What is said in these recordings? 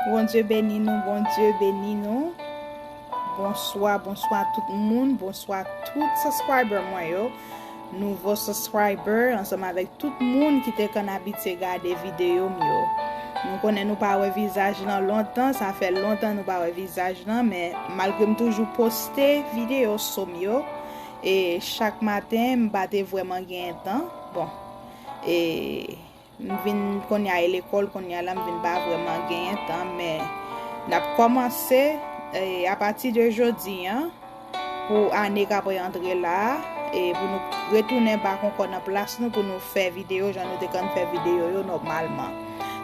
Bondye beni nou Bondye beni nou Bonswa bonswa tout moun bonswa tout subscriber mwen yo nouvo subscriber ansanm avèk tout moun ki te konn abitye gade video m yo nou konnen nou pa wè vizaj lan lontan sa fè lontan nou pa wè vizaj lan men malgre m toujou poste video so m yo e chak maten m pa te vrèman genyen tan bon e M vin konnya e lekòl konnya la m vin pa vrèman genyen tan men nap kòmanse apati de jodi an pou ane kap rantre la e pou nou retounen bat konkò nan plas nou pou nou fè videyo jan nou te konn fè videyo yo nòmalman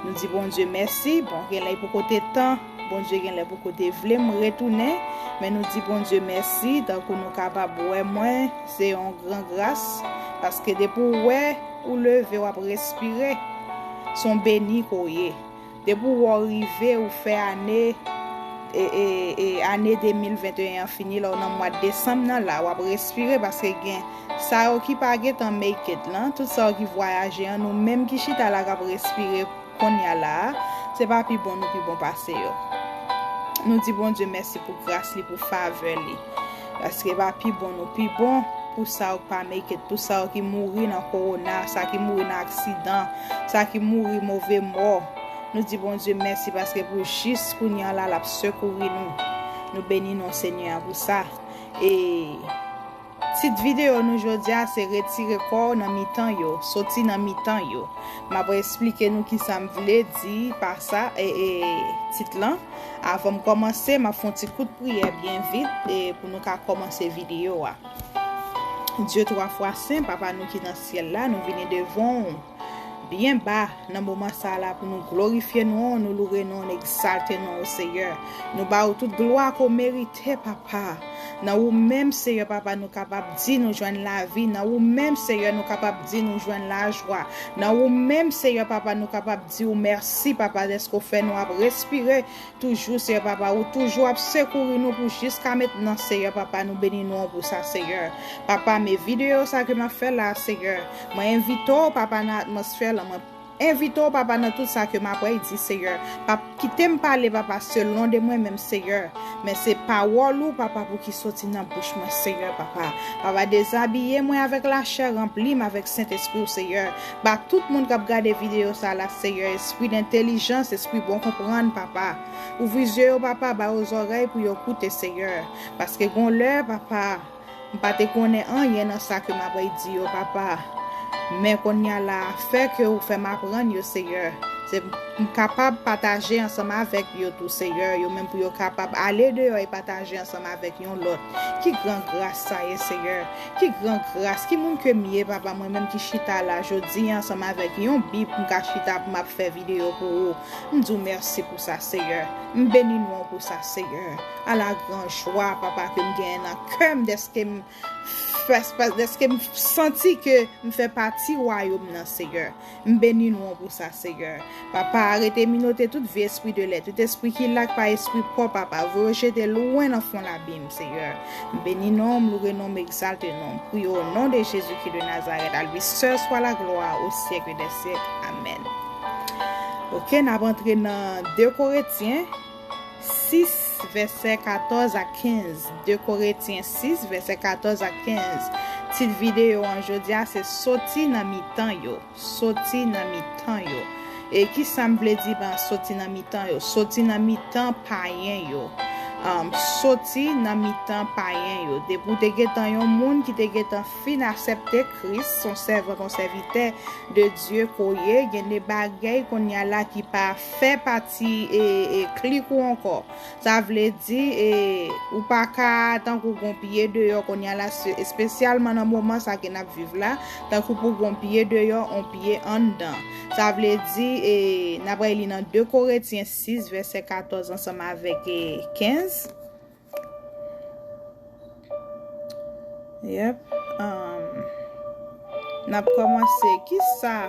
nou di Bondye mèsi bon genlè poko te tan Bondye genlè poko te vle m retounen men nou di Bondye mèsi tankou nou kapab wè mwen se yon gran gras paske depi w wè ou leve wap respire se yon beni ke w ye depi w wè w rive ou fè ane e ane 2021 an fini la w nan mwad desanm nan la wap respire paske gen sa yo ki pa gentan make it lan tout sa yo ki vwayaje an nou menm ki chita la kap respire. Konnya la a, se pa pi bon nou pi bon pase yo. Nou di Bondye mèsi pou gras li, pou favè li. Paske pa pi bon nou pi bon pou sa yo k pa make it, pou sa yo ki mouri nan kowona, sa ki mouri nan aksidan, sa ki mouri move mò. Nou di Bondye mèsi paske pou jis kounye la l ap sekouri nou. Nou beni non Senyè a pou sa. E. Tit videyo nou jodi a se Retire kò w nan mitan yo, soti nan mitan yo. M ap esplike nou kisa m vle di pa sa, tit lan. Avan m kòmanse, m ap fè yon ti kout priyè byen vit pou nou ka kòmanse videyo a. Dye twa fwa sen, Papa nou ki nan syèl la, nou vini devan w. Byen ba, nan moman sa la pou nou glorifye non ou, nou loure non ou, n egzalte non ou Seyè. Nou ba ou tout glwa ke w merite Papa. Nan ou menm Seyè Papa nou kapab di nou jwenn lavi, nan ou menm Seyè nou kapab di nou jwenn lajwa, nan ou menm Seyè Papa nou kapab di ou mèsi Papa dèske w fè nou ap respire Toujou seyè papa ou toujou ap sekouri nou pou jis ka metnan seyè papa nou beni non ou pou sa seyè papa me video sa ke map fè la seyè mwen envite ou papa nan atmosfè lan mwen envite ou papa nan tout sa ke map wè y di seyè papa kitem pale papa selon de mwen menm seyè men se pawòl ou papa pou ki soti nan bouch mwen seyè papa papa dezabiye mwen avèk lachè ranplim avèk sentespri ou seyè Ba tout moun kap gade video sa la seyè espri dentelijans espri bon konprann papa ouvri zye yo papa ba yo zòrèy pou yo koute seyè paske gon lè papa m pa te konnen anyen nan sa ke mabay di yo papa men konnya la afè ke ou fèm aprann yo seyè se m kapab pataje ansanm avèk yo tou seyè yo menm pou yo kapab ale deyò e pataje ansanm avèk yon lòt ki gran gras sa ye seyè Ki gran gras, ki moun ke m ye, Papa, mwen menm ki chita la jodi a ansanm avèk yon Bib pou m ka chita pou m ap fè videyo pou ou. M di w mèsi pou sa, Seyè. M beni non w pou sa, Seyè. Ala gran jwa, Papa, ke m genyen nan kè m dèske m fè, dèske m santi ke m fè pati Wayòm nan, Seyè. M beni non w pou sa Seyè. Papa arete minote tout vye espri de lè tout espri ki la ki pa espri paw papa voye yo jete lwen nan fon labim seyè m beni non w m loure non w m egzalte non w m priye w o non de Jezi Kri de Nazarèt a lui sèl swa la glwa o syèk dè syèk amèn ok nap antre nan 2 koretyen 6, vèsè 14 ak 15 2 Koretyen 6, vèsè 14 ak 15 Tit videyo an jodi a se Soti nan mitan yo Soti nan mitan yo E ki sa m vle di pa soti nan mitan yo? Soti nan mitan payen yo Soti nan mitan payen yo Depi w te gentan yon moun ki te gentan fin asepte Kris son sèvant yon sèvitè de Dye ke w ye gen de bagèy kounye a la ki pa fè pati Ti klik ou ankò. Sa vle di ou pa ka tankou gon pye deyò konya la espesyalman nan moman sa ke nap viv la tankou pou gon pye deyò on pye anndan. Sa vle di na pral li nan 2 Koretyen 6 vèsè 14 ansanm avèk 15. Yep Nap komanse Kisa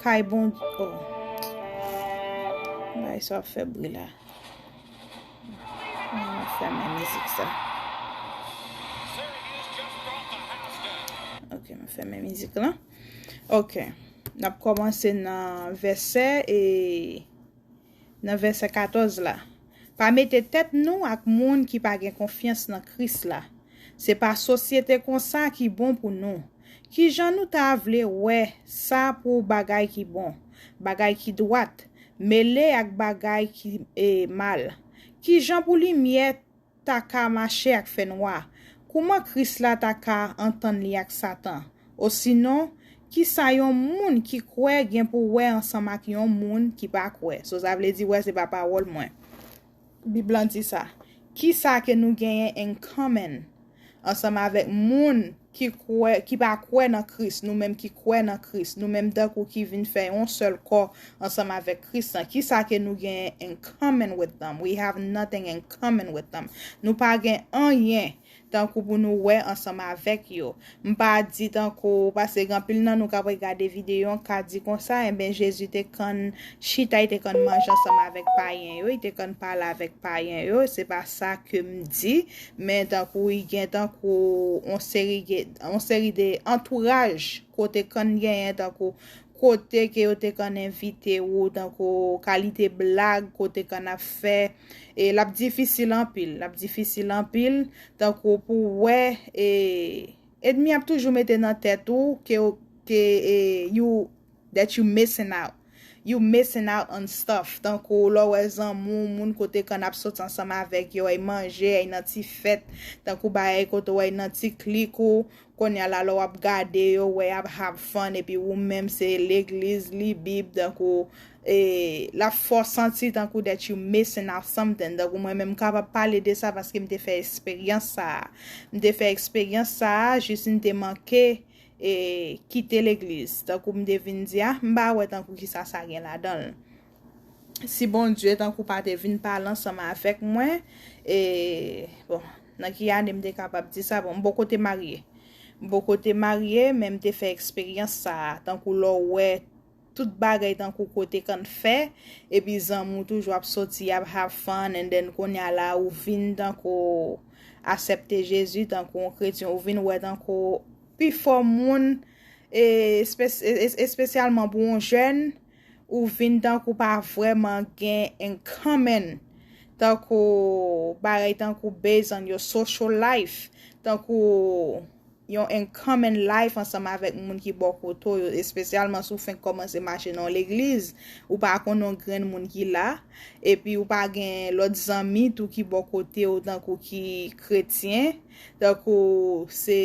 Kay bondye oh Bagay sa ap fè bri la Mwen ap fèmen mizik sa Ok mwen fèmen mizik la Ok Nap komanse nan vèsè e nan vèsè 14 la, Pa mete tèt nou ak moun ki pa gen konfyans nan Kris la. Se pa sosyete konsa ki bon pou nou. Ki jan nou ta vle wè sa pou bagay ki bon, bagay ki dwat, mele ak bagay ki mal? Ki jan pou limyè ta ka mache ak fènwa? Kouman Kris la ta ka antann li ak Satan? Osinon, ki sa yon moun ki kwè gen pou wè ansanm ak yon moun ki pa kwè? So sa vle di wè se pa pawòl mwen. Bib lan di sa. Ki sa ke nou genyen in common ansanm avèk moun ki kwè, ki pa kwè nan Kris, nou menm ki kwè nan Kris, nou menm tankou ki vin fè yon sèl kò ansanm avèk Kris lan, ki sa ke nou genyen in common with them? We have nothing in common with them. Nou pa gen anyen tankou pou nou wè ansanm avèk yo. M pa di tankou, paske gen anpil nan nou k ap regade videyo an ka di konsa, enben Jezi te konn chita, li te konn manje ansanm avèk payen yo, li te konn pale avèk payen yo, se pa sa ke m di, Men tankou y gen tankou on seri on seri de antouraj kote kann genyen tankou kote ke yo te kann envite ou tankou kalite blag kote kann ap fè e l ap difisil anpil l ap difisil anpil tankou pou w wè e edmi ap toujou mete nan tèt ou ke ou ke e you that you missing out. You missing out on stuff tankou lè w wè zanmi w, moun kote w konn ap soti ansanm avèk yo, èy manje, èy nan ti fèt, tankou bagay kote w èy nan ti klik ou, konnya la lè w ap gade yo, wè y ap have fun epi wou menm se legliz, li bib, tankou e l ap fè w santi tankou that you missing out something tankou mwen menm m kapab pale de sa paske m te fè esperyans sa a, m te fè eksperyans sa a jis m te manke e kite legliz tankou m te vin di a m pa wè tankou kisa sa gen ladan l si Bondye tankou pa te vin pale ansanm avèk mwen e bon nan ki ane m te kapab di sa bon m poko te marye m poko te marye men m te fè eksperyans sa tankou lè w wè Tout bagay tankou kote can fè, epi zanmi w toujou ap soti yap have fun and then kounya la ou vin tankou asèpte Jezi tankou yon kretyen ou vin wè tankou pi fò moun e espesyalman pou yon jèn ou vin tankou pa vrèman gen in common tankou bagay tankou based on your social life tankou yon in common life ansanm avèk moun ki bò kote w yo, espesyalman si w fenk kòmanse mache nan yon legliz, ou pa konnen yon grenn moun ki la, epi ou pa gen lòt zanmi tou ki bò kote w tankou ki kretyen, tankou se,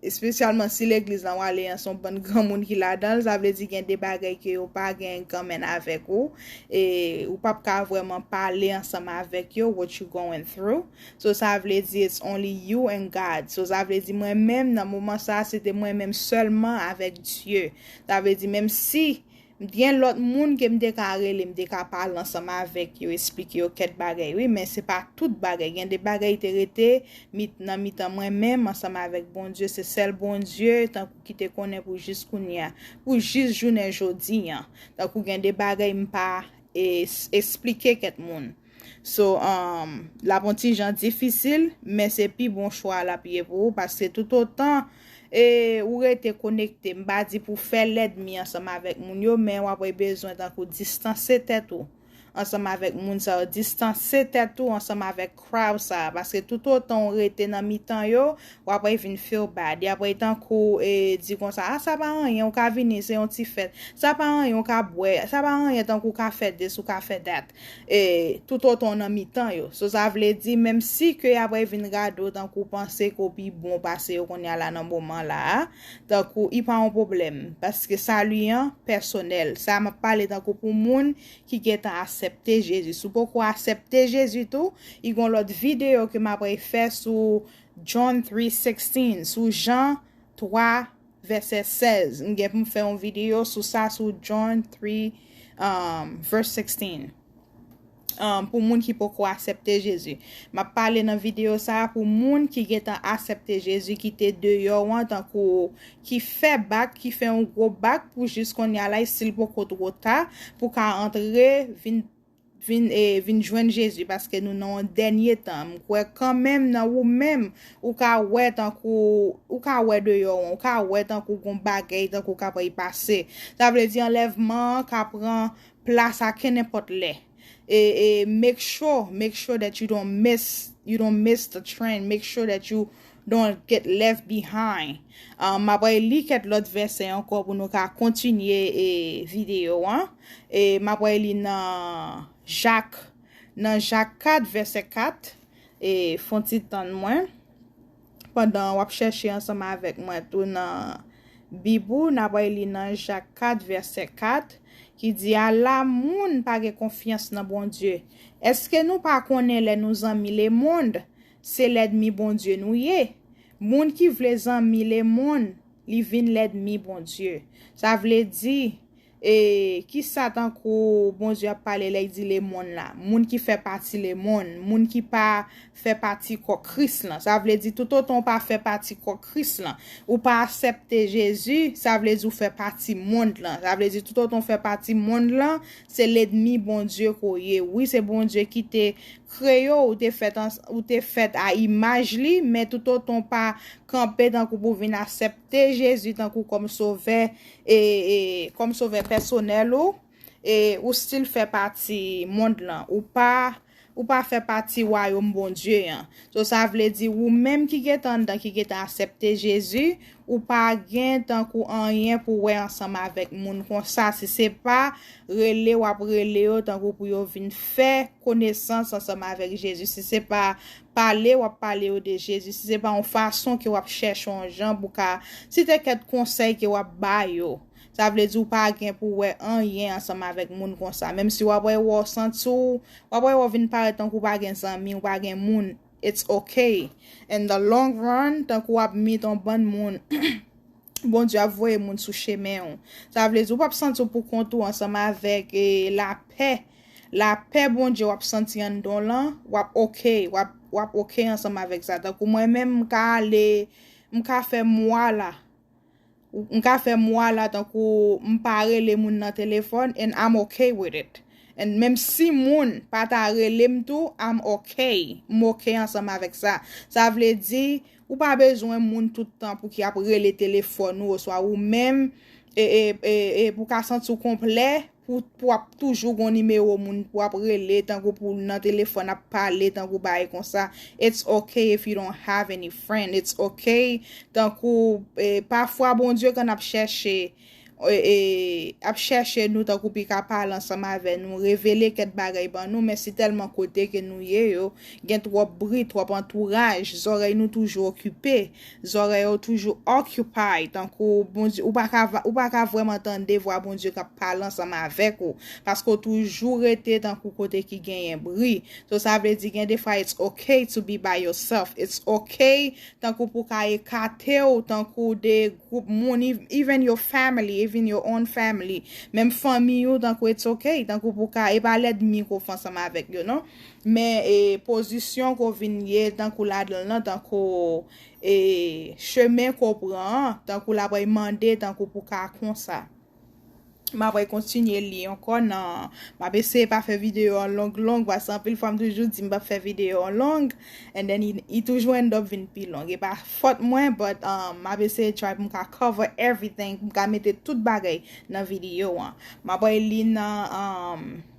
espesyalman si legliz lan w ale an se yon bann granmoun ki ladan l, sa vle di gen de bagay ke yo pa gen in common avèk ou, e ou p ap ka vrèman pale ansanm avèk yo what you going through, So sa vle di it's only you and God. So sa vle di mwen menm nan moman sa se te mwen menm sèlman avèk Dye. Sa vle di menm si m t gen lòt moun ke m te ka rele, m te ka pale ansanm avèk yo, esplike yo kèt bagay wi men se pa tout bagay. Gen de bagay te rete mit nan mitan mwen menm ansanm avèk Bondye. Se sèl Bondye tankou ki te konnen pou jis kounye a. Pou jis jounen jodi an. Tankou gen de bagay m pa e esplike kèt moun. So lap on ti jan difisil men se pi bon chwa lap ye pou ou paske tout otan ou rete konekte m pa di pou fè lèdmi ansanm avèk moun yo men wap wè bezwen tankou distanse tèt ou ansanm avèk moun sa yo distanse tèt ou ansanm avèk crowd sa paske tout otan ou rete nan mitan yo wap wè vin feel bad yap wè tankou di konsa ah sa pa anyen ou ka vini se yon ti fèt sa pa anyen ou ka bwè sa pa anyen tankou ou ka fè this ou ka fè that. E, toutotan w nan mitan yo. So sa vle di, menmsi ke y apre vin gade w tankou panse ke w pi bon pase yo kounye a la nan moman la a, tankou i pa yon pwoblèm. Paske sali an pèsonèl. Sa a m ap pale tankou pou moun ki gentan asèpte Jezi. Si w poko asèpte Jezi tou, i gon lòt videyo ke m apre fè sou John 3:16, sou Jan 3, vèsè 16, m gen pou m fè yon videyo sou sa sou John 3 vs 16 pou moun ki poko asèpte Jezi m ap pale nan videyo sa pou moun ki gentan asèpte Jezi ki te deyò an tankou ki fè bak ki fè yon gwo bak pou jis konnya la estil poko two ta pou ka antre vin Vin e vin jwenn Jezi paske nou nan yon dènye tan. M kwè kanmenm nan ou menm ou ka wè tankou ou ka wè deyò an, ou ka wè tankou gon bagèy tankou kap ray pase. Sa vle di anlèvman an ka pran plas a kennenpòt lè. E e make sure, make sure that you don't miss, you don't miss the train, make sure that you Don't get left behind. M ap reli kèt lòt vèsè ankò pou nou ka kontinye e videyo an. E m ap reli nan Jak, nan Jak 4 vèsè 4. E fon ti tann mwen. Pandan w ap chèche ansanm avèk mwen tou nan Bib ou, n ap reli nan Jak 4 vèsè 4 ki di, Ala moun pa gen konfyans nan Bondye! Èske nou pa konnen lè nou zanmi lemond, Se lèdmi Bondye nou ye. Moun ki vle zanmi lemonn, li vin lèdmi Bondye. Sa vle di, e, ki sa tankou Bondye ap pale lè l di lemonn la? Moun ki fè pati lemonn, moun ki pa fè pati kò Kris lan. Sa vle di toutotan ou pa fè pati kò Kris lan, ou pa asèpte Jezi, sa vle di ou fè pati mond lan. Sa vle di toutotan ou fè pati mond lan, se lèdmi Bondye ke w ye. Wi, se Bondye ki te Kreyó ou te fèt an ou te fèt a imaj li men toutotan w pa kanpe tankou pou vin asèpte Jezi tankou kòm sovè e e kòm sovè pèsonèl ou e ou stil fè pati mond lan ou pa ou pa fè pati wayom Bondye an so sa vle di ou menm ki gentan anndan ki gentan asèpte Jezi Ou pa gen tankou anyen pou wè ansanm avèk moun konsa si se pa rele wap rele yo tankou pou yo vin fè konesans ansanm avèk Jezi si se pa pale wap pale yo de Jezi si se pa yon fason ke wap chèche yon jan pou ka si te kèt konsèy ke wap ba yo sa vle di ou pa gen pou wè anyen ansanm avèk moun konsa menm si wap wè wè w santi w wap wè wè w vin parèt tankou w pa gen zanmi w pa gen moun It's ok. In the long run, tankou w ap meet on bann moun, Bondye ap voye moun sou chemen ou. Sa vle di ou pap santi w pou kont ou ansanm avèk e lapè, lapè Bondye w ap santi anndan w lan, w ap ok, w ap ok ansanm avèk sa. Tankou mwen menm m ka ale, m ka fè mwa la. M ka fè mwa la tankou m pa rele moun nan telefòn and I'm ok with it. And menm si moun pa ta rele m tou, I'm ok. M ok ansanm avèk sa. Sa vle di, ou pa bezwen moun tout tan pou ki ap rele telefòn ou oswa ou menm pou ka santi w konplè, Pou pou ap toujou gon nimewo moun pou ap rele tankou pou nan telefòn ap pale tankou bagay konsa it's ok if you don't have any friend it's ok tankou pafwa Bondye kan ap chèche ap chèche nou tankou pi ka pale ansanm avè nou revele kèt bagay ban nou men si tèlman kote ke nou ye yo gen twòp bri twòp antouraj zòrèy nou toujou okipe Zòrèy ou toujou occupy tankou Bondye ou paka ou paka vrèman tande vwa Bondye kap pale ansanm avèk ou paske ou toujou rete tankou kote ki genyen bri so sa vle di gen defwa it's ok to be by yourself it's ok tankou pou ka ekatew tankou de gwoup moun even your family even your own family menm fanmiy ou tankou it's ok tankou pou ka e pa lèdmi ke w fè ansanm avèk yo non Men e pozisyon ko vin ye tankou ladanl nan tankou e chemen ko pran an tankou lapray mande tankou pou ka konsa. Mapray kontinye li ankò nan map eseye pa fè video an long long paske anpil fwa m toujou di m pap fè video an long and then i toujou end up vin pi long e pa fòt mwen but map eseye try pou m ka cover everything pou m ka mete tout bagay nan video an. Mapray li nan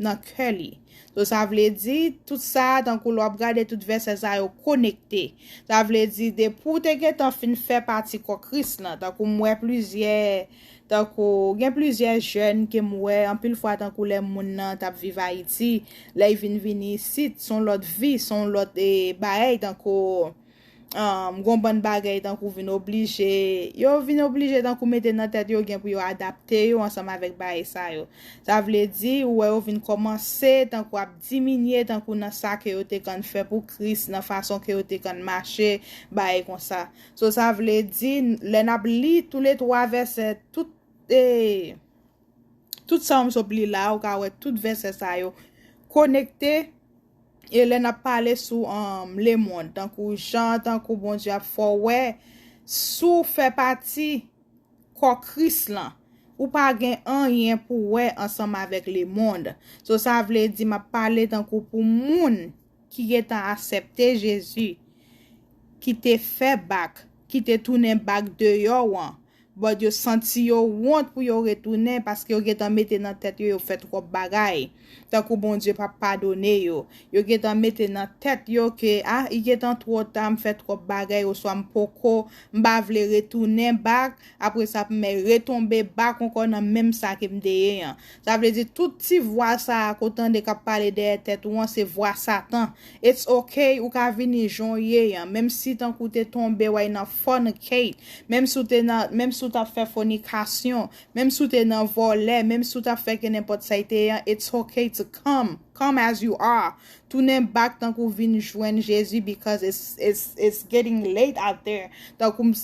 nan kè li. So sa vle di, tout sa a tankou lè w ap gade tout vèsè sa yo konekte. Sa vle di depi w te gentan fin fè pati kò Kris lan, tankou m wè plizyè, tankou gen plizyè jèn ke m wè anpil fwa tankou lè moun nan t ap viv Ayiti, lè y vin vini isit, s on lòt vi, s on lòt baay tankou. gon bann bagay tankou vin oblije, yo vin oblije tankou mete nan tèt yo gen pou yo adapte yo ansanm avèk bagay sa yo. Sa vle di, ou wè yo vin kòmanse tankou ap diminye tankou nan sa ke yo te konn fè pou Kris, nan fason ke yo te konn mache, bagay konsa. So sa vle di, lè n ap li tou le twa vèsè, tout e, tout sa ou m sot li la a, ou ka wè tout vèsè sa yo konekte, E lè nap pale sou lemond tankou jan tankou Bondye ap fè w wè si w fè pati kò Kris lan ou pa gen anyen pou w wè ansanm avèk lemond. So sa vle di map pale tankou pou moun ki gentan asèpte Jezi ki te fè bak ki te tounen bak deyò an But yo santi yo wont pou yo retounen paske yo gentan mete nan tèt yo yo fè twòp bagay. Tankou Bondye pap padone yo. Yo gentan mete nan tèt yo ke ah i gentan twò ta m fè twòp bagay oswa m poko m pa vle retounen back apre sa p m retonbe back ankò nan menm sa ke m te ye an. Sa vle di tout ti vwa sa a ke w tande k ap pale dèyè tèt ou an se vwa satan It's ok ou ka vini jan w ye an menm si tankou w te tonbe way nan fornicate menm si w te nan menm si w tap fè fonikasyon menm si w te nan vòlè menm si w tap fè kenenpòt sa y te ye an it's ok to come come as you are tounen back tankou w vin jwenn Jezi because it's it's it's getting late out there tankou m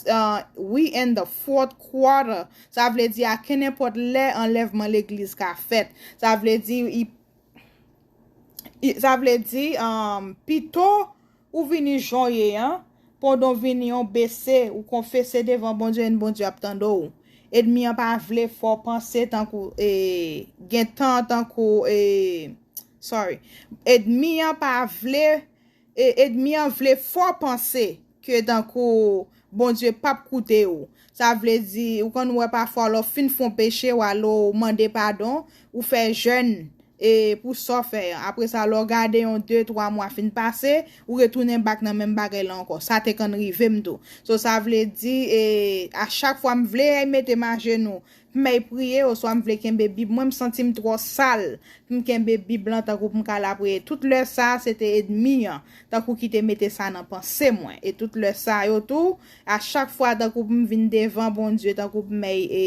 we in the fourth quarter sa vle di a kenenpòt lè anlèvman legliz ka fèt sa vle di Sa vle di, pito ou vini jan w ye an, pandan w vini an, w bese, ou konfese devan Bondye epi Bondye ap tande w. Edmi an pa vle fè w panse tankou e, gen tan tankou e, sorry. Edmi an pa vle. E edmi an vle fè w panse ke tankou Bondye pap koute ou. Sa vle di, ou konn wè pafwa lè w fin fè yon peche, w ale w mande padon, ou fè jèn e pou sa w fè an. Apre sa lè w gade yon de twa mwa fin pase, ou retounen bak nan menm bagay la ankò. Sa te konn rive m tou. So sa vle di e a chak fwa m vle mete m ajenou, Pmay priye oswa m vle kenbe bib mwen m santim twò sal pm kenbe bib lan tankou pm ka la priye tout lè sa se te edmi an tankou ki te mete sa nan panse mwen e tout lè sa yo tou a chak fwa tankou pm vin devan Bondye tankou pmay e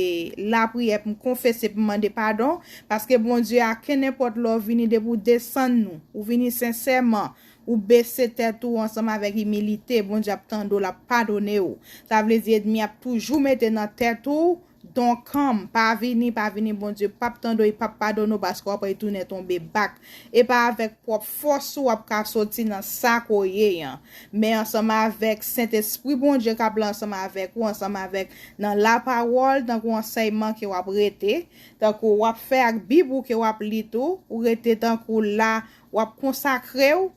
la priye pm konfese pm mande padon paske Bondye a kenenpòt lè w vini depi w desann nou ou vini sensèman Ou bese tèt ou ansanm avèk imilite, Bondye ap tande w, l ap padone w. Sa vle di edmi ap toujou mete nan tèt ou, Donkanm, pa vini, pa vini, Bondye p ap tande w, li p ap padone w paske w ap retounen tonbe bak. E pa avèk pwòp fòs ou w ap ka soti nan sa ke w ye an, men ansanm avèk Sentespri Bondye k ap la ansanm avèk ou, ansanm avèk nan lapawòl, tankou ansèyman ke w ap rete, tankou w ap fè ak bib ou ke w ap li tou, ou rete tankou la wap konsakrew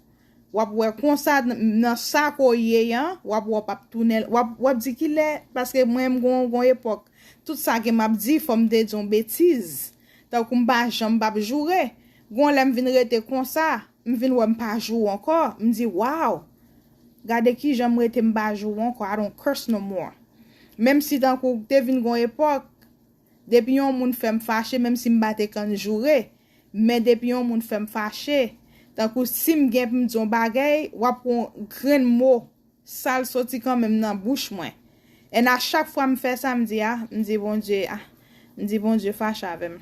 wap wè konsa nan sa ke w ye an wap wè w pap tounen wap di kilè paske mwen m gon epòk tout sa ke map di fòm te di yon betiz tankou m pa janm pap joure gon lè m vin rete konsa m vin wè m pa joure ankò m di waw gade kijan m rete m pa joure ankò I don't curse no more menm si tankou te vin gon epòk Depi yon moun fè m fache menm si m pa te kann joure men depi yon moun fè m fache tankou si m gen pou m di yon bagèy w ap wè yon grenn mo sal soti kanmenm nan bouch mwen en a chak fwa m fè sa m di ah m di Bondye ah m di Bondye fache avè m.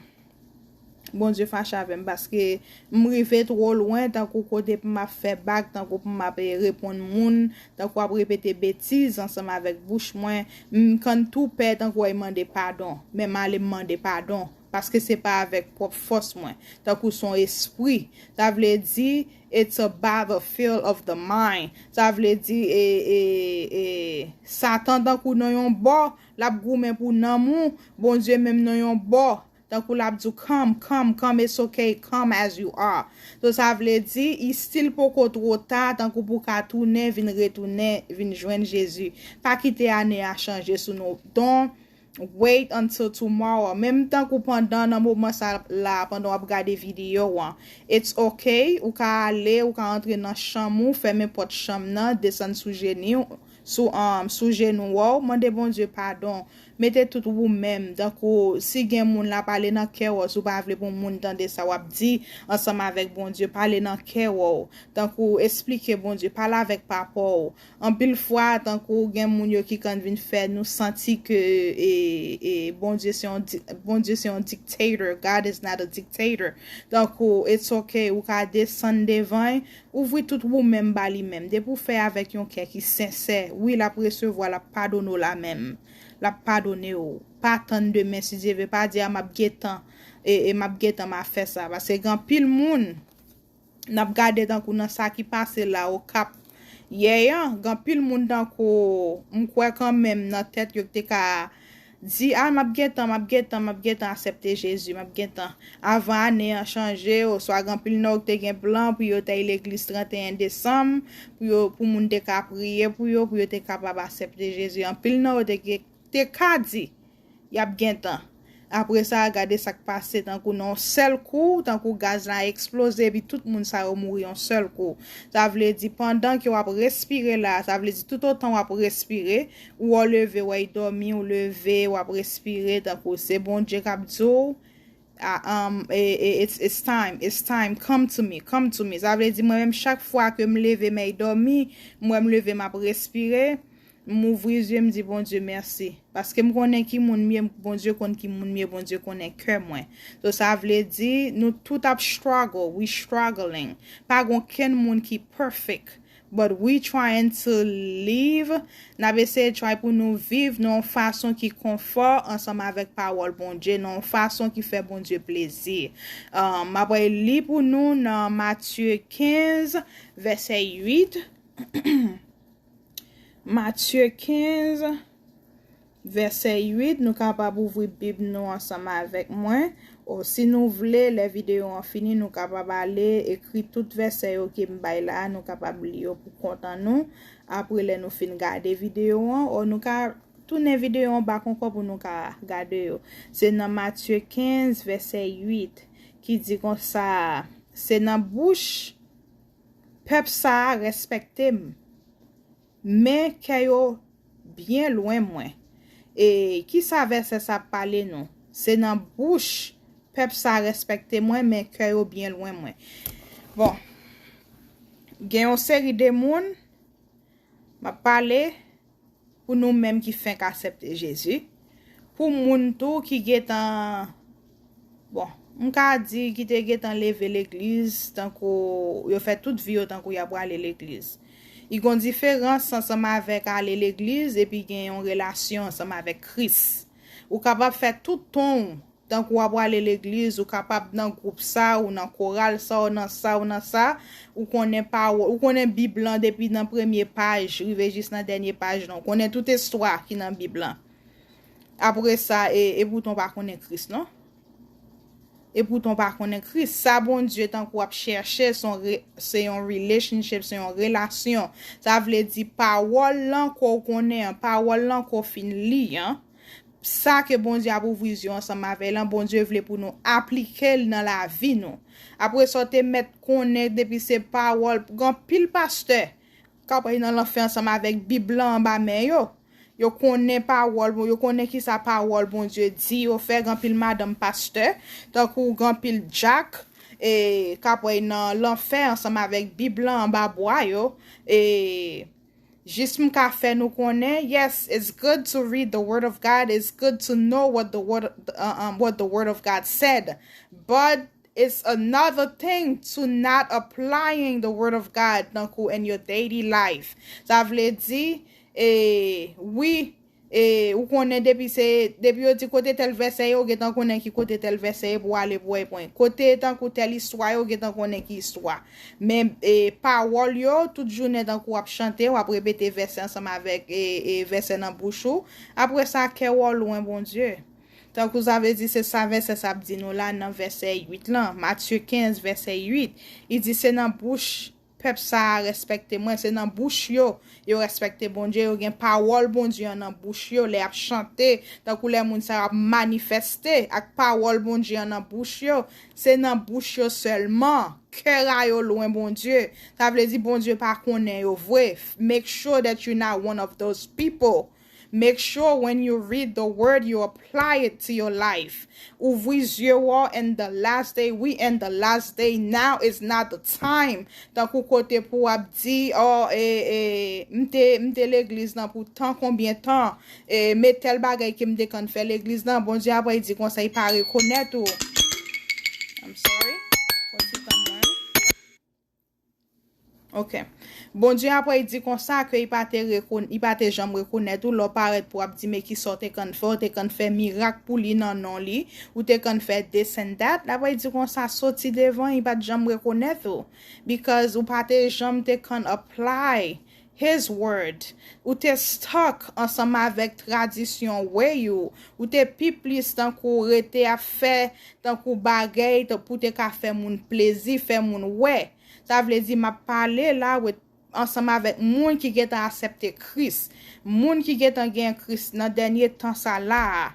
Bondye fache avèm paske m rive two lwen tankou kote pou map fè bak tankou pou map reponn moun tankou ap repete betiz ansanm avèk bouch mwen m kann tou pè tankou oi mande padon men m ale m mande padon paske se pa avèk pwòp fòs mwen tankou son espri sa vle di it's a battle field of the mind sa vle di e e e satan tankou nan yon bò lap goumen pou nanm ou Bondye menm nan yon bò Tankou lap di w come, come, come it's ok, come as you are. So sa vle di, i stil poko two ta, tankou pou w ka tounen, vin retounen, vin jwenn Jezi. Pa kite ane a chanje sou nou. Don't wait until tomorrow. Menm tankou pandan nan moman sa la, pandan wap gade video an, it's ok, ou ka ale, ou ka antre nan chanm ou, fèmen pòt chanm nan, desann sou jeni w, Sou um sou jenou wou mande Bondye padon mete tout wou menm tankou si gen moun la pale nan kè wou si w pa vle pou moun tande sa wap di ansanm avèk Bondye pale nan kè wou tankou esplike Bondye pale avèk papa w anpil fwa tankou gen moun yo ki kan vin fè nou santi ke e e Bondye se yon Bondye se yon dictator God is not a dictator tankou it's ok wou ka desann devan y Ouvri tout wou menm ba li menm. Depi w fè avèk yon kè ki sensè, wi l ap resevwa, l ap padone w la menm. L ap padone w. Pa tann demen si Dye ve, pa di a m ap gentan e m ap gentan m a fè sa. Paske gen anpil moun n ap gade tankou nan sa ki pase la Okap yè an, gen anpil moun tankou m kwè kanmenm nan tèt yo ki te ka Di a map gentan map gentan map gentan asèpte Jezi map gentan avan ane an chanje oswa gen anpil nan yo ki te gen plan pou yo tèy legliz 31 desanm pou yo pou moun te ka priye pou yo pou yo te kapab asèpte Jezi anpil nan yo te gen te ka di yap gentan apre sa gade sak pase tankou nan yon sèl kou tankou gaz la eksploze epi tout moun sa yo mouri yon sèl kou sa vle di pandan ke wap respire la sa vle di tout otan wap respire Ou ou leve wey domi ou leve wap respire tankou se bondye kap diw it's time it's time come to me come to me sa vle di mwen menm chak fwa kem leve mey domi m wem leve map respire m ouvri zye m di bondye merci paske m konnen ki moun m ye bondye konn ki moun m ye bondye konnen kè mwen so sa vle di nou tout ap struggle we struggling pa gen okenn moun ki perfect But we trying to live, nap eseye try pou nou viv nan yon fason ki konfò ansanm avèk pawòl Bondye, nan yon fason ki fè Bondye plezi. Map li pou nou nan Matye 15 vèsè 8, Matye 15. Vèsè 8, Nou kapab ouvri Bib nou ansanm avèk mwen, o, si nou vle, lè videyo an fini, nou kapab ale ekri tout vèsè yo ke m bay la a, nou kapab li yo pou kont an nou, apre lè nou fin gade videyo an, o, nou ka tounen videyo an bak ankò pou nou ka gade yo. Se nan Matye 15, vèsè 8, ki di konsa, Se nan bouch pèp sa a rèspèkte m. Men kè yo byen lwen mwen. E kisa vèsè sa ap pale nou? Se nan bouch pèp sa rèspèkte mwen men kè yo byen lwen mwen. Bon, gen yon seri de moun, m ap pale pou nou menm ki fenk asèpte Jezi, pou moun tou ki gentan. Bon, m ka di ki te gentan leve legliz tankou yo fè tout vi yo tankou y ap prale legliz. I gon diferans ansanm avèk ale legliz epi gen yon relasyon ansanm avèk Kris. Ou kapab fè tout ton ou tankou w ap prale legliz, ou kapab nan gwoup sa, ou nan koral sa, ou nan sa, ou nan sa, ou konnen pawòl, ou konnen Bib lan depi nan premye paj rive jis nan dènye paj lan, ou konnen tout estwa ki nan Bib lan. Apresa e epoutan w pa konnen Kris non. Epoutan w pa konnen Kris. Sa Bondye tankou ap chèche se yon relationship, se yon relasyon. Sa vle di pawòl lan ke w konnen an, pawòl lan ke w fin li an, sa ke Bondye ap ouvri zye w ansanm avè lan, Bondye vle pou nou aplike l nan lavi nou. Apresa w te mèt konnen depi se pawòl, gen anpil pastè, K ap ale nan lanfè ansanm avèk Bib lan anba men yo. Yo konnen pawòl bon, yo konnen ki sa pawòl Bondye di yo fè gen anpil madanm pastè, tankou gen anpil dyak e k ap ale nan lanfè ansanm avèk Bib lan anba bwa yo e jis m ka fè nou konnen yes it's good to read the word of God it's good to know what the word of God said but It's another thing to not applying the word of God tankou in your daily life. Sa vle di, e, wi, e, ou konnen depi se, depi yo di kote tèl vèsè ye, ou gentan konnen ki kote tèl vèsè ye pou w ale pou w epwen. Kote tankou tèl istwa ye, ou gentan konnen ki istwa. Men, e, pawòl yo, tout jounen tankou w ap chante, w ap repete vèsè ansanm avèk, e, e, vèsè nan bouch ou, apre sa, kè w ou lwen Bondye. Tankou sa vle di se sa vèsè sa ap di nou la nan vèsè 8 lan, Matye 15 vèsè 8, li di se nan bouch pèp sa a rèspèkte mwen, se nan bouch yo, yo rèspèkte Bondye, yo gen pawòl Bondye an nan bouch yo, lè y ap chante, tankou lè moun sa yo ap manifèste ak pawòl Bondye an nan bouch yo, se nan bouch yo sèlman, kè a yo lwen Bondye, sa vle di Bondye pa konnen yo vre, make sure that you not one of those people. Make sure when you read the word you apply it to your life ouvri zye w and the last day we and the last day now is not the time tankou kote pou ap di oh m te m te legliz lan pou tan konbyen tan me tel bagay ke m te konn fè legliz lan Bondye apre di konsa li pa rekonet ou I'm sorry pwan ti tan mwen. Ok. Bondye apre i di konsa ke i pa te rekonn, i pa te janm rekonèt ou lè w parèt pou ap di men ki sa w te konn fè, ou te konn fè mirak pou li nan non li, ou te konn fè this and that, apre i di konsa soti devan, i pa t janm rekonèt ou, because ou pa te janm te konn apply His word. Ou te stuck ansanm avèk tradisyon way ou, ou te pi plis tankou rete ap fè tankou bagay pou w te ka fè moun plezi, fè moun wè. Sa vle di m ap pale la with ansanm avèk moun ki gen tan asèpte Kris, moun ki gen tan gen Kris nan dènye tan sa la a.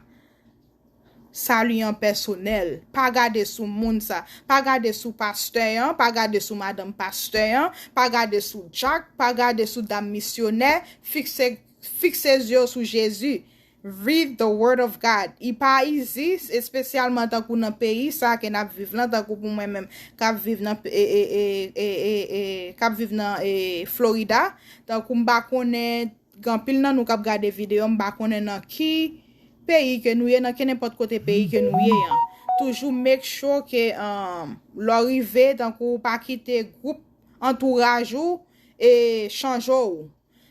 Salut an pèsonèl. Pa gade sou moun sa. Pa gade sou pastè an, pa gade sou madanm pastè an, pa gade sou Jack, pa gade sou dam misyonè, fikse fikse zye w sou Jezi. Read the word of God. I pa izi, espesyalman tankou nan peyi sa ke nap viv lan, tankou pou mwen menm kap viv nan e e e e e e kap viv nan e Florida, tankou m pa konnen. Ganpil nan nou kap gade video m pa konnen nan ki peyi ke nou ye nan kenenpòt kote peyi ke nou ye an toujou make sure ke lè w rive tankou w pa kite gwoup antouraj ou e chanje w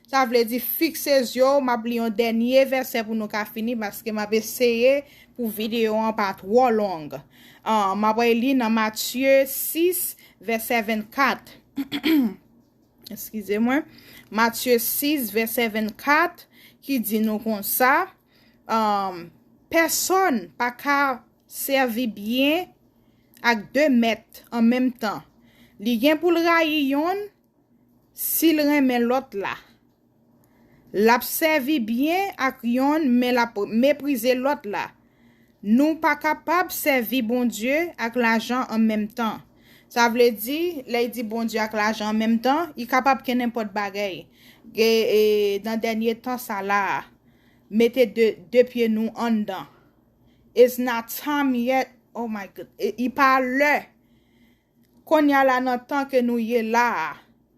sa vle di fikse zye w map li yon dènye vèsè pou nou ka fini paske map eseye pou video an pa twò long map li nan Matye 6 vèsè 24. Eskize mwen. Matye 6, vèsè 24, ki di nou konsa, Pèsòn pa ka sèvi byen ak de mèt an menm tan. Li gen pou l rayi yonn, si l renmen lòt la. L ap sèvi byen ak yonn men l ap meprize lòt la. Nou pa kapab sèvi Bondye ak lajan an menm tan. Sa vle di, lè y di Bondye ak lajan an menm tan, y kapab kennenpòt bagay. Nan dènye tan sa la a, mete de pye nou anndan. It's not time yet, oh my goodness, li pa lè! Konnya la nan tan ke nou ye la a,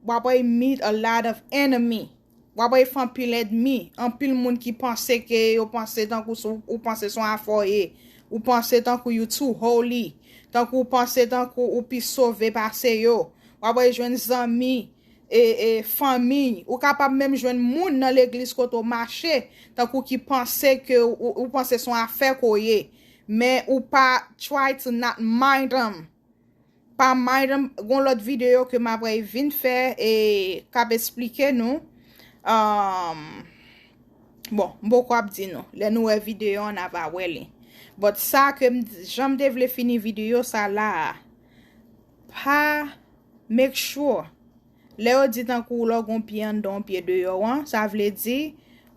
wap wè y meet a lot of enemy, wap wè y fè anpil èdmi, anpil moun ki panse ke yo panse tankou se ou panse son afè w ye, ou panse tankou you too holy, tankou ou panse tankou ou pi sove pase yo, wap wè y jwenn zanmi, e e fanmiy, ou kapab menm jwenn moun nan legliz kote w mache tankou ki panse ke ou panse son afè ke w ye, men ou pa try to not mind them. pa mind em gon lot video ke m ap ray vin fè e k ap esplike nou um bon m poko ap di nou lè nou wè video an na va wè li but sa ke m jan m te vle fini video sa la a pa make sure lè yo di tankou lè w gon pye anndan yon pye deyò an sa vle di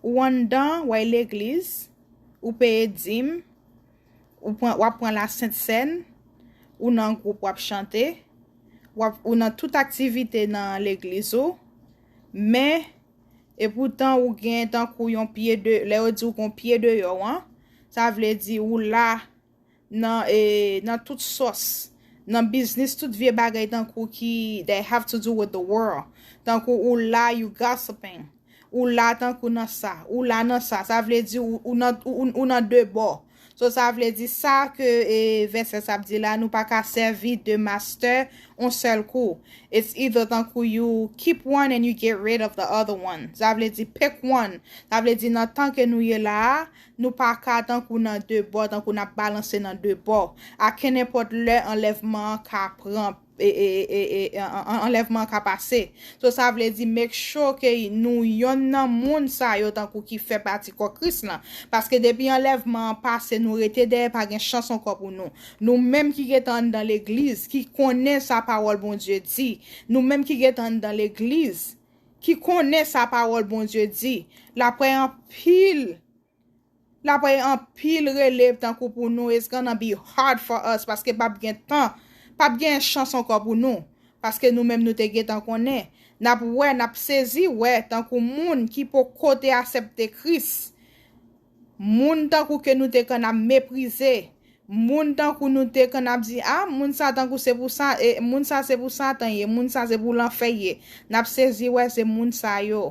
ou anndan way legliz ou peye dim Ou pran wap pran la sent sèn, ou nan gwoup wap chante, wap ou nan tout aktivite nan legliz ou, men e poutan ou gen tankou yon pye de lè yo di ou gon pye deyò an, sa vle di ou la nan e nan tout sòs, nan biznis tout vye bagay tankou ki they have to do with the world, tankou ou la you gossiping. Ou la tankou nan sa. Ou la nan sa. Sa vle di ou nan de bò. So sa vle di sa ke vèsè sa ap di la nou pa ka sèvi de master on sèl kou. It's either tankou you keep one and you get rid of the other one. Sa vle di pick one. Sa vle di nan tan ke nou ye la a, nou pa ka tankou nan de bò, tankou n ap balanse nan de bò. A kenenpòt lè anlèvman an ka pran. anlèvman an ka pase. So sa vle di make sure ke nou yonn nan moun sa yo tankou ki fè pati kò Kris lan. Paske depi anlèvman an pase nou rete dèyè pa gen chans ankò pou nou. Nou menm ki gentan anndan legliz, ki konnen sa pawòl Bondye di, nou menm ki gentan anndan legliz, ki konnen sa pawòl Bondye di, l aprè anpil. Lapay anpil releve tankou pou nou it's gonna be hard for us paske pap gen tan pap gen chans ankò pou nou paske nou menm nou te gentan konnen nap wè nap sezi wè tankou moun ki poko te asèpte Kris moun tankou ke nou te konn ap meprize moun tankou nou te konn ap di ah moun sa tankou se pou sa moun sa se pou satan ye moun sa se pou lanfè ye nap sezi wè se moun sa yo.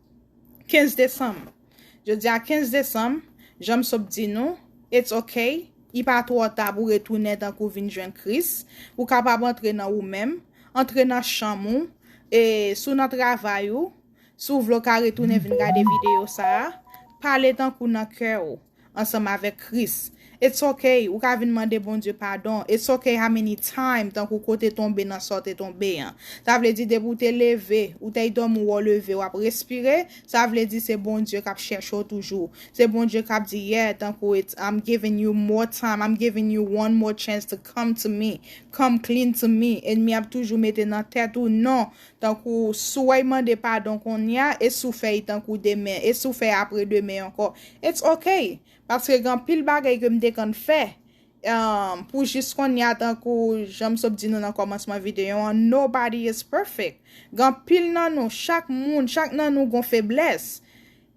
15 desanm Jodi a 15 desanm, jan m sot di nou, it's ok, I pa twò ta pou retounen tankou w vin jwenn Kris, ou kapab antre nan ou menm, antre nan chanm ou, e si w nan travay ou, si w vle w ka retounen vin gade videyo sa a, pale tankou nan kè ou. ansanm avèk Kris. It's ok ou ka vin mande Bondye padon, it's ok how many time tankou ke w te tonbe nan sa w te tonbe an. Sa vle di depi w te leve, ou tey dòmi wè w leve w ap respire, sa vle di se Bondye kap chèche w toujou. Se Bondye kap di yeah tankou it's I'm giving you more time, I'm giving you one more chance to come to me, come clean to me, enmi ap toujou mete nan tèt ou non Tankou, Souey mande padon konnya e sou fèy tankou demen e sou fèy apre demen ankò. It's ok! Paske gen anpil bagay ke m te konn fè emm pou jis konnya tankou jan m sot di nou nan kòmansman videyo an nobody is perfect. Gen anpil nan nou, chak moun, chak nan nou gon feblès.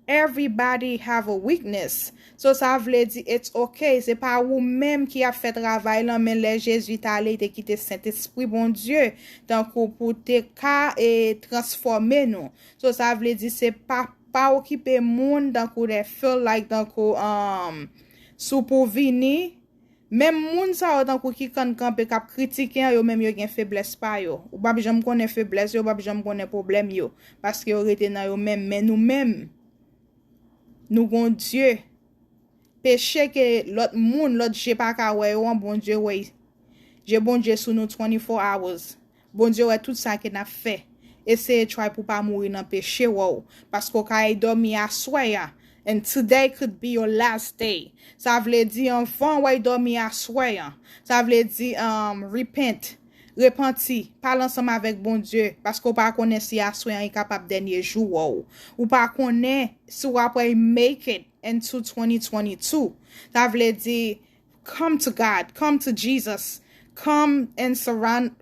Everybody have a weakness so sa vle di it's ok se pa ou menm ki ap fè travay lan men lè Jezi t ale li te kite Sentespri Bondye tankou pou te ka e transfòme nou so sa vle di se pa pa okipe moun tankou they feel like tankou um si w pou vini Menm moun sa yo tankou ki kann kanpe kap kritike an yo menm yo gen feblès pa yo. Ou pap janm konnen feblès yo, ou pap janm konnen pwoblèm yo. Paske yo rete nan yo menm. Men nou menm, nou gon Dye. Peche ke lòt moun, lòt je paka wè yo an, Bondye wè. Je Bondye sou nou 24 hours. Bondye wè tout sa ke nap fè. Eseye try pou pa mouri nan peche wow paske w ka ey domi aswè ya and today could be your last day sa vle di anvan w ey domi aswè an sa vle di um repent repanti pale ansanm avek Bondye paske w pa konnen si aswè an kapab dènye jou wow ou pa konnen si wap ey make it into 2022 sa vle di Come to God, come to Jesus, come and surround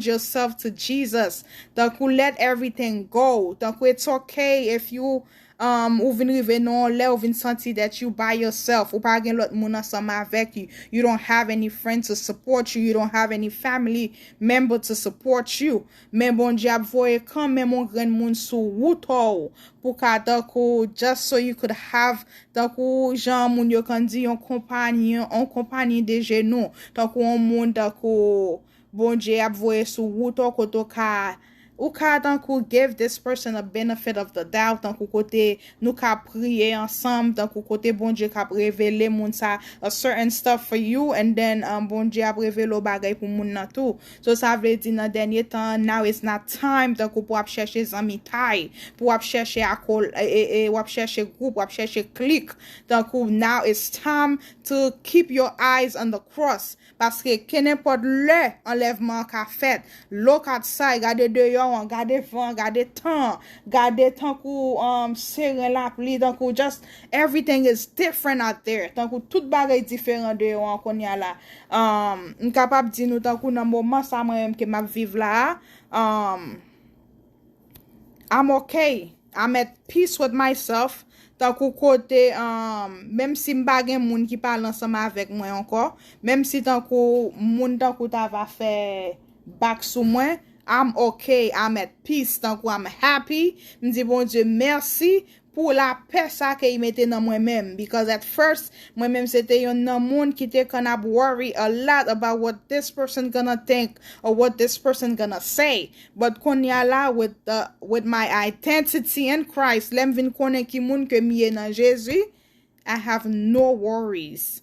yourself to Jesus, tankou let everything go, tankou it's ok if you um ou vin rive nan yon lè ou vin santi that you by yourself, ou pa gen lòt moun ansanm avèk you, you don't have any friend to support you, you don't have any family member to support you, Men Bondye ap voye kanmenm on grenn moun sou wou to w pou ka tankou just so you could have tankou jan moun yo konn di yon konpagn on konpagn de genou tankou on moun tankou Bondye ap voye sou wou to kote w ka ou ka tankou give this person a benefit of the doubt tankou kote nou ka priye ansanm tankou kote Bondye ka ap revele moun sa a certain stuff for you and then Bondye ap revele w bagay pou moun nan tou So sa vle di nan dènye tan an now is not time tankou pou ap chèche zanmitay, pou wap chèche akol e wap chèche group, wap chèche clique tankou now is time to keep your eyes on the cross paske kenenpòt lè anlèvman an ka fèt look outside gade deyò an, gade van an, gade tan an, gade tankou seren lapli tankou just Everything is different out there tankou tout bagay diferan deyò an kounya la umm m kapab di nou tankou nan moman sa mwen menm ke map viv la a umm I'm ok I'm at peace with myself tankou kote umm menm si m pa gen moun ki pale ansanm avèk mwen ankò menm si tankou moun tankou ta va fè back sou mwen I'm ok I'm at peace tankou I'm happy m di Bondye mèsi pou la pè sa ke i mete nan mwen menm because at first mwen menm se te yonn nan moun ki te konn ap worry a lot about what this person gonna think or what this person gonna say but konnya la with the with my identity in Christ lèm vin konnen ki moun ke m ye nan Jezi I have no worries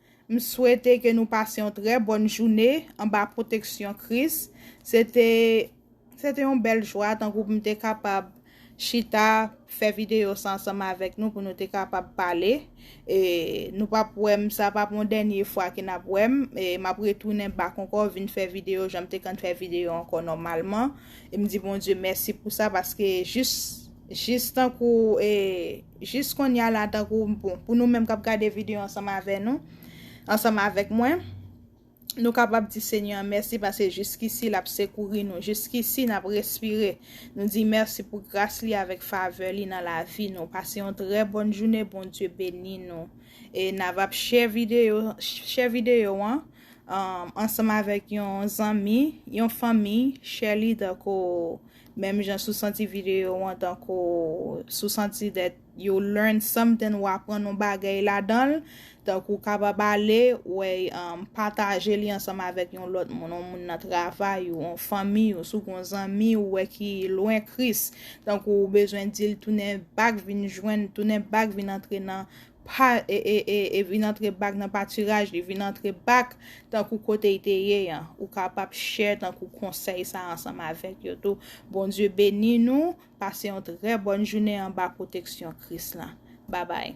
M swete ke nou pase yon trè bòn joune anba pwoteksyon Kris. Se te Se te yon bèl jwa tankou pou m te kapab chita fè videyo sa ansanm avèk nou pou nou te kapab pale. E Nou pap wè m sa pap yon dènye fwa ke n ap wè m. E M ap retounen bak ankò vin fè videyo jan m te konn fè videyo ankò nòmalman. E m di Bondye mèsi pou sa paske jis Jis tankou e jis konnya la tankou bon pou nou menm kap gade video ansanm avè nou ansanm avèk mwen nou kapab di senyè an mèsi pase jiskisi lap sekouri nou jiskisi nap respire nou di mèsi pou gras li avèk favè li nan lavi nou pase yon trè bòn joune Bondye beni nou e navap share video share video an ansanm avèk yon zanmi yon fanmi share li tankou. Menm jan si w santi videyo an tankou si w santi that you learn something ou aprann yon bagay ladan l, tankou w kapab ale wè pataje li ansanm avèk yon lòt moun, yon moun nan travay ou, yon fanmi ou, si w gen yon zanmi ou wè ki lwen Kris, tankou ou bezwen di l tounen bak vin jwenn, tounen bak vin antre nan Pa e vin antre bak nan patiraj li vin antre bak tankou kote y te ye an ou kapab share tankou konsèy sa ansanm avèk yo tou Bondye beni nou pase yon trè bòn jounen anba pwoteksyon Kris la babay.